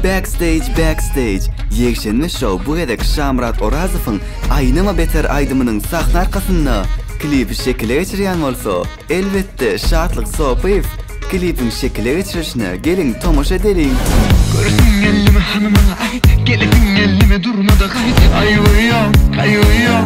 Backstage Backstage ýekşenbe şou bu gezek Şamyrat Orazowyň Aýnama beter aýdymynyň sahna arkasynda klipi şekile geçirýän bolsa, elbetde, Şatlyk Sopyýew klipiň şekile geçirilişine geliň tomaşa edeliň. Göresim gelmedi hanymana aýt Gelesim gelmedi durmada gaýt Aýgyýom, gaýgyýom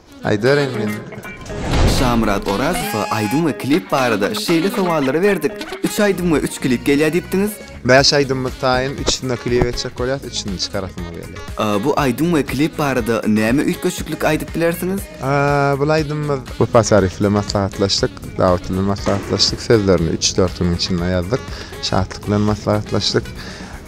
Aýdaryn men. Şamyrat Orazowa aýdym we klip barada şeýle sowallary berdik, üç aýdym we üç klip gelýär diýipdiňiz? Bäş aýdymymyz taýyn, üçüsinde klip etjek bolýas, üçüsini çykarasymyz gelýär. Bu aýdym we klip barada näme üýtgeşiklik aýdyp bilersiňiz? Bul aýdymymyz. Wepa Saryýew bilen maslahatlaşdyk, Dawut bilen maslahatlaşdyk, sözlerini üç-dört günüň içinde ýazdyk, Şatlyk bilen maslahatlaşdyk,